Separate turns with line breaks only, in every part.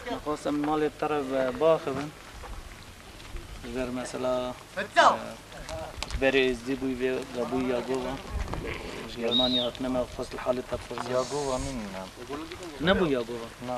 Dixwazim malê te re biaxivim. Ji ber mesela ji berê Êzidî bû vê ve bû Yagova. Ji Germaniya hatine me dixwest li halê te bipirsîm. Yagova mîn. Nebû Yagova? Na.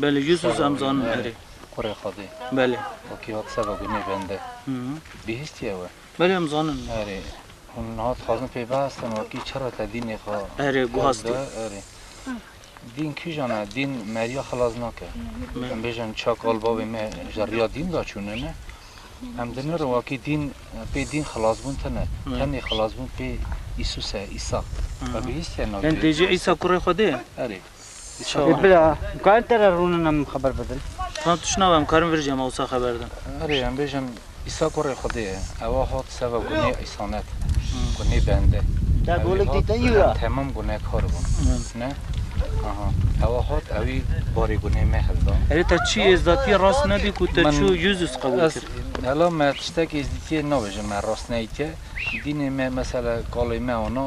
Belê jû zû em zanin herê. Kurê Xwedê. Belê. Wekî hat seba gunê bende. Bihîstî ew e. Belê em zanin. Herê. Hûn niha dixwazin pê bihestin wekî çira te dînê xwe. Herê guhastî. Herê. Dîn kîjan e? Dîn meriya xilas nake. Em bêjin çak al bavê me ji riya dîn de çûne ne. Em dinirin wekî dîn pê dîn xilasbûn tine. Tenê xilasbûn pê Îsus e, Îsa. We bihîstiye navê Îsa? Yan tê jî Îsa kurê Xwedê ye? Herê. Çawa? Bila, karin te re rûnin em xeber bidin? Tan tu şnav em karin vir jî hema wisa xeber din. Erê em bêjin Îsa kurê Xwedê ye. Ewa hat seva gunê îsanet, gunê bende. Ew ê hat em temam gunekar bûn. Ne? Aha. Ewa hat ewî barê gunê me hilda. Erê te çi êzdatiyê rast nedî ku te çû Yûzus qebûl kir? Hela me tiştekî êzdîtiyê nabêjin me rastneyîtiye. Dînê me mesela kalê me ana.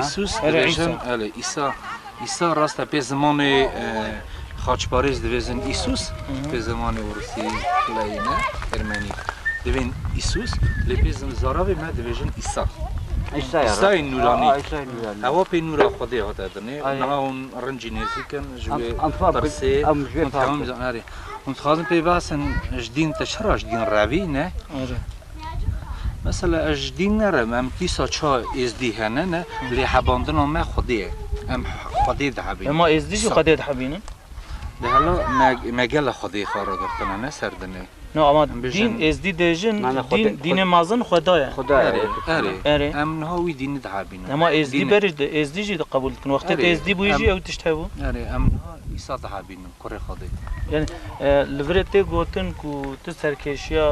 Îsus dibêjin, elê, Îsa, Îsa rast e pê zimanê xaçparêz dibêjin Îsus, pê zimanê Rûsî, Ukrayîne, Ermenî dibên Îsus, lê pê zaravê me dibêjin Îsa. Îsayê nûranî. Ewa pê nûra Xwedê hate dinê. Niha hûn rincî nêzîk in ji wê pirsê. Hûn dixwazin pê behsin ji dîn te çira ji dîn revî ne? Mesela ez ji dîn nere me, em dîsa ça êzdî hene ne, lê hebandina me Xwedê ye. Em Xwedê dihebînin. Ema êzdî jî Xwedê dihebînin. Lê hela me me gelo Xwedê xwe ragirtine ne ser dinê. No ema dîn êzdî dê jin dîn dînê mezin Xweda ye. Xweda ye. Erê erê. Em niha wî dînî dihebînin. Ema êzdî berê êzdî jî di qebûl dikin. Wextê te êzdî bûyî jî ew tişt hebû. Erê em niha Îsa dihebînin. kurê xwe bê. Yanî li vir e tê gotin ku tu serkêşiya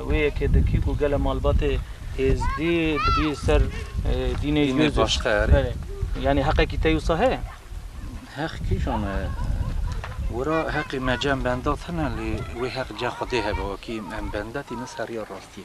wê yekê dikî ku gele malbatê êzdî dibî ser dînê Yûzûf. Yanî heqekî te wisa heye? Heq kîjan e? Wira heqê me cem benda tune lê wê heq ceh xwedê hebe wekî em benda tînin ser rêya rastiyê.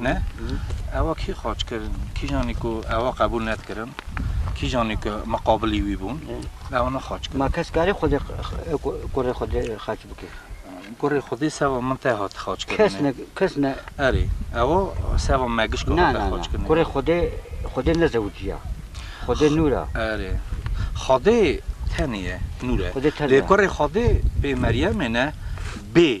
Ne, ewa kî xaç kir, kîjanî ku ewa qebûl nedikirin, kîjanî ku miqabilî wî bûn, ewa ne xaç kir. Ma kes karê Xwedê kurê Xwedê xaç bike? Kurê Xwedê seba min te hat xaç kirinê. Kes ne, kes ne. Erê, ewa seba me gişka Na, na, na. Kurê Xwedê, Xwedê ne zewiciya. Xwedê nûr a. Erê. Xwedê tenê ye, nûr e. Xwedê tenê ye. Lê kurê Xwedê bê Meryemê ne, bê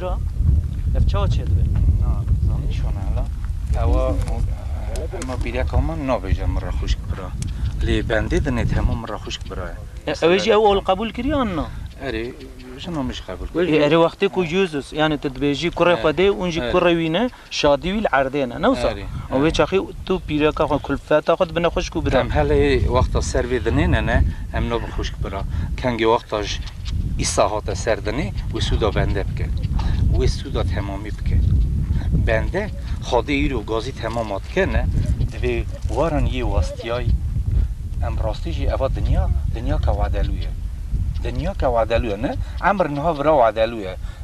Ev çawa çê dibe? Na zanî şo ne hela. Ewa hema pîrya kama nabêje min re xwişk bira. Lê bendê dinê di hema min re xwişk bira ye. Ew ê jî ew ol qebûl kiriye an na? Erê jina min jî qebûl kiriye. Erê wextê ku Jesus yanî tu dibêjî kurê Xwedê û hûn jî kurê wî ne. Şadî wî li erdê ne, ne wisa? Erê, Û wê erê. çaxê tu pîreka xwe, kulfeta xwe dibine xwişk û bira. Em helê wexta ser vê dinê ne ne, em nabin xwişk bira. Kengê wexta ji Îsa hate ser dinê, wê sûda bende bike. Wê sûda temamî bike. Bende, xadê îro gazî temama dike ne, divê waran yê westiyayî. Em rastî jî eva dinya, dinyaka wedelû ye. Dinyaka wedelû ye ne, emr niha vira wedelû ye.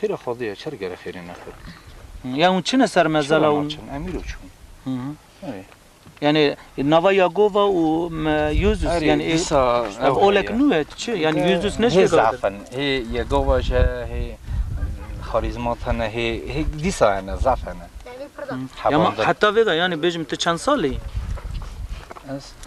Xêra xwazê ye, çer gere xêrê nexwe. Ya hûn çin e ser mezala Çira û naçin, em îro çûn. Erê. yanê nava Yagova û me Yûzus Erê, yanê ê- dîsa ev ew olek heye. nû ye tu çi? Yanê Yûzus ne Hê şêga zaaf kir. hene, hê Yegova ji heye, hê xarîzmat hene, hê hê dîsa hene, zaf hene. Yama Hevandin. heta vêga yanê bêjim tu çend salî yî? Ez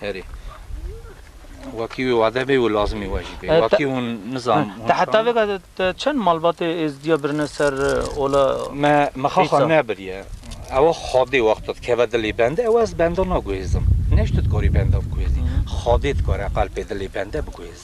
Herî. Wekî wî wade bê û lazimî we jî bê. Wekî hûn nizam. Te heta vêga de te çend malbatê êzdiya birine ser ola. Me mixa xwe nebiriye. Ew Xwedê wexto dikeve dilê bende ew ez benda naguhêzim. Neştu dikarî benda biguhêzî. Xwedê dikare qelpê dilê bende biguhêze.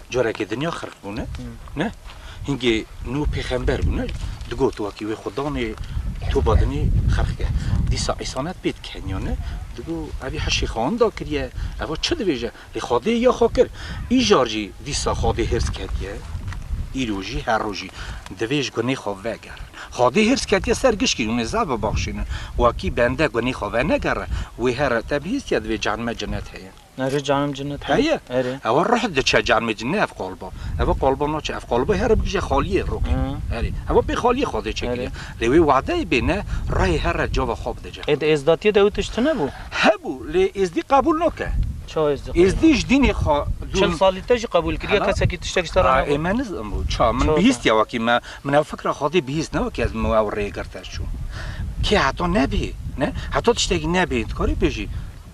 Careke dinya xirq bûne. Ne? Hingê nû pêxember bûne. Digot wakî wê xwe danê toba dinê xirq ke. Dîsa Îsa ne pê dikeniya ne. Digot evî heşê xan da kiriye. Eva çi dibêje? Lê Xwedê ya xwe kir. Îcar jî dîsa Xwedê hêrs ketiye. Îro jî her rojî divê ji gunê xwe vegerin. Xwedê hêrs ketiye ser gişkî hûn ê zaf bibexşînin. Wakî bende gunê xwe venegere wê here te bihîstiye divê cehenneme cenet heye. Erê canim cinnet be. Heye. Erê. Ewa ruh diçe canim cinne ev qalba. Ewa qalba naçe. Ev qalba here bigije xaliyê rokê. Erê. Ewa pê xaliyê xwedê çekiriye. Lê wê wadeyê bêne ruhê here cava xwe bide cixwe. Êdî êzdatiyê de ew tişt tunebû? Hebû lê êzdî qebûl nake. Ça êzdî qebûl nake? Êzdî ji dînê xwe dûr. Çil salî te jî qebûl kiriye kesekî tiştek ji te re nexwe? Ê me nizanibû ça. Min bihîstiye wekî me. Min ew fikra xwedê bihîst ne wekî ez min ew rêyê girtî ez çûm. Kê heta nebê ne heta tiştekî nebê dikarî bêjî.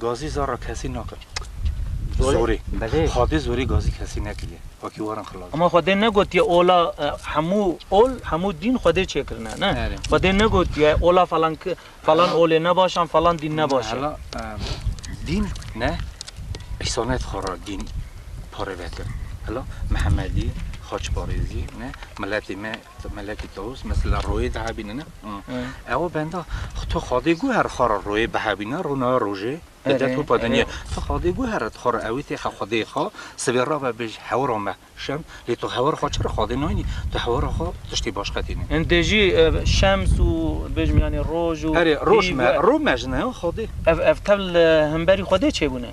Gazî zar re kesî nake. Zorê. Xwedê zorê gazî kesî nekiriye. Akî waran xilas. Hema Xwedê negotiye ola hemû ol, hemû dîn Xwedê çêkirine ne. Xwedê negotiye ola falan falan olê ne baş an, falan dîn ne baş e. Hela dîn ne îsanet xwe re dîn parêve kir. Hela Mihemedî, Xaçparêzî ne miletê me. Melekî Tawus mesela royê dihebînine ew benda tu Xwedê guher xwe re royê bihebîne rûna rojê di dest û pedenî tu Xwedê guher re xwe re ewî tê xwe Xwedê xwe sibê re ve bêj hewira me şem lê tu hewira xwe çi re Xwedê nayînî tu hewira xwe tiştê baş qetînî. Hindê jî şems û bêjim yanî roj û erê roj me rû me ji ne Xwedê. Ev ev tevl himberî Xwedê çêbûne.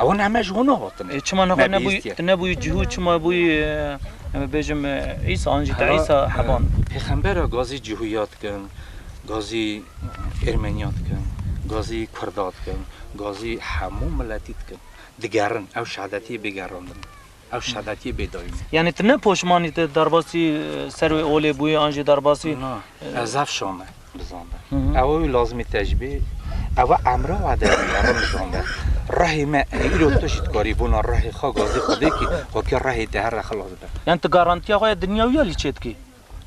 Ew hûn heme ji hûn hatin. E çima nexwe nebûy nebûy cihû çima bûy bêjim îsa an jî te îsa heban bû. Pêxembera gazî cihûya dikin, gazî êrmeniya dikin, gazî kurda dikin, gazî hemû miletî dikin. Digerin ew şehadetiyê bêgerandin. Ev şevetî bêdayîn e. Yanî tu ne poşmanî te derbasî ser wê olê bûyî an jî derbasî. Na, ez ev şam e bizanda. Ew wî lazimî te ji bê ew e emra we de bûye re bizanda. Rehê me ê îro tu jî dikarî bona rehê xwe gazê xwe vekî, xwekê rehê te here xilas be. Yanî tu garantîya xwe ya dinya wî alî çêdikî?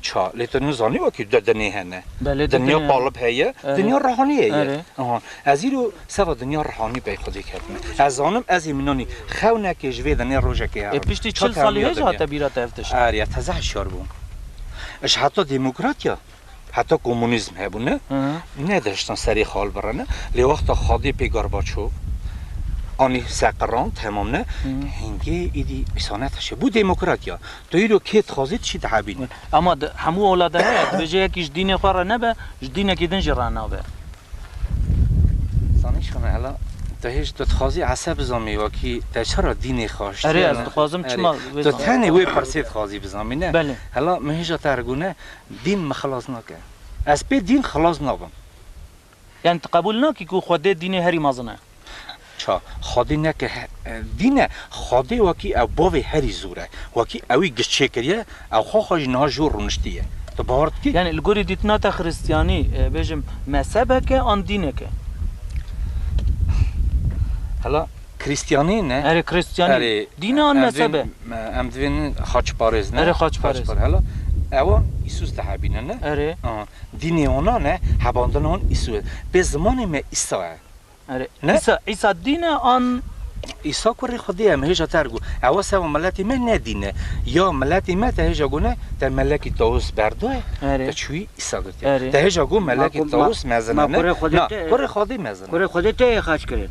Ça, lê tu nizanî wekî tu dinê hene. Belê tu Dinya dinê hene. qalib heye, Erê. dinya rihaniyê ye. Erê. Aha. Ez îro seva dinya rihanî pey xwe dê ketime. Ez zanim ez ê minanî xewnekê ji vê dinê rojekê E herin. piştî Ça çil salî tevliya hê jî dinya. hate bîra te ev tişt. Erê ez teze hişyar bûm. Ji heta demokratiya heta komûnîzm hebûne Aha. ne dihiştin serê xal birine. Lê wexta xadê pê Gorbaçov anî seqirand hemam ne hingê êdî îsanetişê bû demokratiya. Tu îro kê dixwazî tu çî dihebînî. Ema di hemû ola de heye, dibêje yekî ji dînê xwe re nebe, ji dînekî din jî re nabe. Zanî çi me hela? Tu hêj tu dixwazî Esa bizanbî wekî te çira dînê xwe aştiye? Erê ez dixwazim çima wê zanî. Tu tenê wê pirsê dixwazî bizanbî ne? Belê. Hela min hêja te re gune, dîn min xilas nake. Ez pê dîn xilas nabim. Yanî tu qebûl nakî ku Xwedê dînê herî mezin e? Ça, Xwedê ne ke dîn e, Xwedê wekî ew bavê herî zûr e. Wekî ewî giş çêkiriye, ew xwe xwe jî niha ji wir rûniştiye. Tu bawer dikî? Yanî li gorî dîtina te xiristiyanî bêjim mezhebek e an dînek e? Hela Kiristiyanî ne? Erê Kiristiyanî. Dîn e an mezheb e? Em divên xaçparêz ne? Erê xaçparêz. Hela ewan Îsûs dihebîne ne? Erê. Dînê hona ne, hebandina hon Îsu ye. Pê zimanê me Îsa ye. Erê, Îsa, Îsa dîn e an? Îsa kurê Xwedê ye, me hêja te ergo. Ewa seva miletê me ne dîn e. Ya miletê me te hêja gone te melekî Tawus berdoye, te çûyî Îsa girtiye. Te hêja go melekî Tawus mezin e ne. Na, kurê Xwedê mezin e. Kurê Xwedê te yê xerc kirin.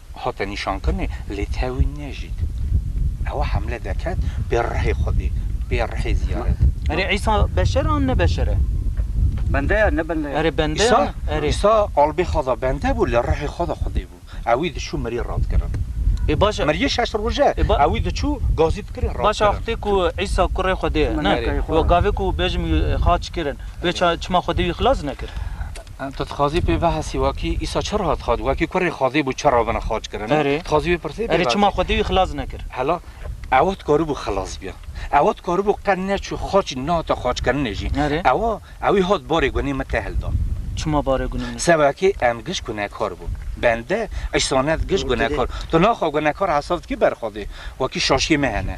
Hate nîşankirinê lê tewî nejît. Ewa hemle deket bê rihê Xwedê, bê rihê ziyaret. Erê Îsa beşer an ne beşer e? Bende ya ne bende ya? Erê bende ya? Îsa, Îsa albê xwe da bende bû lê rihê xwe da Xwedê bû. Ewî diçû mirî radkirin. Ê baş e. Mirîyê şeş roj e. Ewî diçû gazî dikirin radkirin. Baş e wextê ku Îsa kurê Xwedê ye ne? Wa gavê ku bêjim wî xaç kirin wê çima Xwedê wî xilas nekir? Tu dixwazî pê behsî wekî Îsa çi re hat xwedî, wekî kurê Xwedê bû çi re bine xaçkirin. Erê. Dixwazî wê pirsî pê behsî. Erê çima Xwedê wî xilas nekir? Hela ew dikaribû xilas biya. Ew dikaribû qet neçû xaçî nehate xaçkirinê jî. Erê. Ew ew ê hat barê gunê min tehil da. Çima barê gunê min? Sebekê em giş gunekar bûn. Bende îsane giş gunekar. Tu naxa gunekar hesab dikî ber Xwedê. Wekî şaşiyê me hene.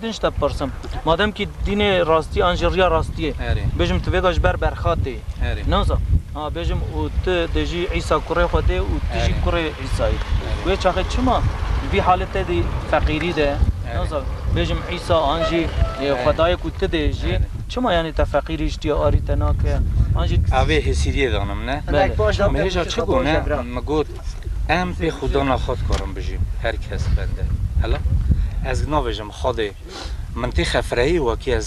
Din ji te bipirsim. Ma demkî dînê rastî an jî riya rastîyê. Bêjim tu vêga ji ber berxatê yî. Newsa ha bêjim û tu dê jî Îsa kurê Xwedê yî û tu jî kurê Îsa yî. Wê çaxê çima di vî haletê de feqîrî de newsa bêjim Îsa an jî Xwedayê ku tu dê jî çima yanî te feqîrî ji tîya arî te nake an jî. Avê hêsîrîyê danim ne. Mihêja çi gone min got. Em pê xwedana xwe dikarin bijîn, her kes bende. Hela ez nabêjim Xwedê min tê xefireyê wekî ez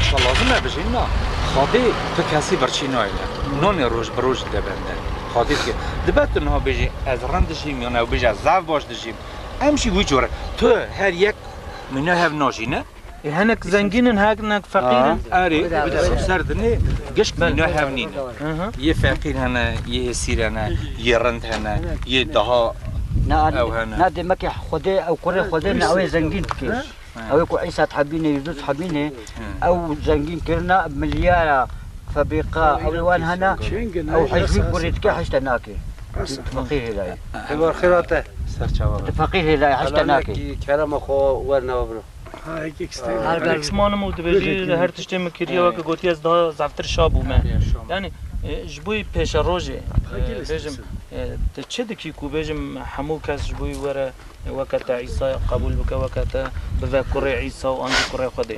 şa lazim e bijîn na. Xwedê tu kesî birçî nayêne. Nanê roj bi roj dide bende. Xwedê dike. Dibe tu niha bêjî ez rind dijîm yan ew bêje ez zaf baş dijîm. Em jî wî cor e. Tu her yek mîna hev najîne. Hinek zengîn in hinek feqîr in. Erê bi ser dinê gişt mîna hev nîn e. Yê feqîr hene, yê hêsîr hene, yê rind hene, yê daha ew hene. Na demekê Xwedê ew kurê Xwedê ne ew ê zengîn bike. Ew ê ku Îsa dihebîne yê Yûzus hebîne ew zengîn kirina milyara febrîqa ew ê wan hene ew hej wî kurê dike hej te nake. Tu feqîr hêlayî. Heval xêra te. Serçava be. Tu feqîr hêlayî heştê nakî. Helalekî kerema xwe wernawe biro. Alex manim û dibêjî li her tiştê min kiriye weke gotiye ez daha zeftir şa bûme. Yanî ji bo pêşerojê bêjim tu çi dikî ku bêjim hemû kes ji bo were weke te Îsaya qebûl bike weke te bive kurê Îsa û an jî kurê Xwedê.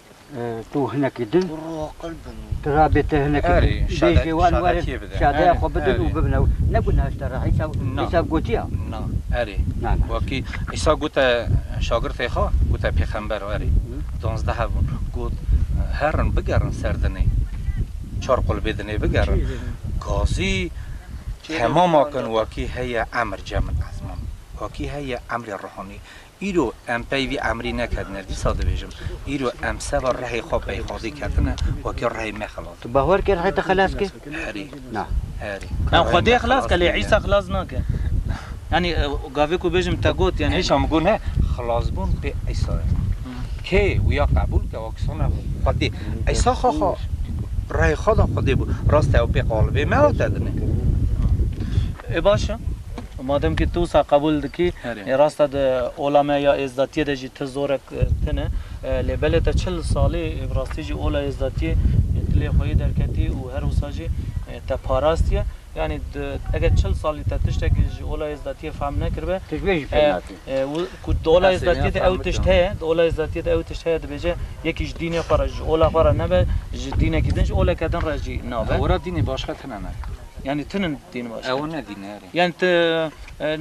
Tu hinekî din. Tu rabê te hinekî din. Bêjê wan werin şadeya xwe bidin û bibin ew. Ne gunah ji te re Îsa Îsa gotiya. Na erê. Na na. Wekî Îsa gote şagirtê xwe gote pêxember erê. Duwazdeh hev bûn. Got herin bigerin ser dinê. Çar qulbê dinê bigerin. Gazî temam akin wekî heye emir cem min ezman. Wekî heye emrê ruhanî. Îro em pey vî emrî nekerdine, dîsa dibêjim, îro em seba rehê xwe peyxwazî kerdine, wekî rehê me xelas Tu bawer kir rehê te xelas kir? Herî. Na. Herî. Em Xwedê xelas kir lê Îsa xelas nake. Yanî gavê ku bêjim te got yanî. Îsa min got ne, xelasbûn pê Îsa ye. Kê wiya qebûl ke wa kisana Xwedê. Îsa xwe xwe rehê xwe da Xwedê bû. Rast e ew pê qalibê me hat tedine. Ê baş e. Madem ki tu wisa qebûl dikî, ê rast e di ola me ya êzdatiyê de jî ti zorek tune. Lê belê te çil salî bi rastî jî ola êzdatiyê dilê xwe yê derketî û her wisa jî te parastiye. Yanî eger çil salî te tiştekî ji ola êzdatiyê fehm nekiribe, ku di ola êzdatiyê de ew tişt heye, di ola êzdatiyê de ew tişt heye dibêje yekî ji dînê xwe re, ji ola xwe re nebe, ji dînekî din, ji oleke din re jî nabe. Were dînê başka tune ne. Yanî tinin dîn baş. Ew ne dîn erê. Yani tu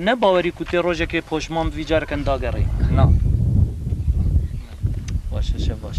ne bawerî ku tê rojekê poşman bivî careken dagerî. Na. Baş e şev baş.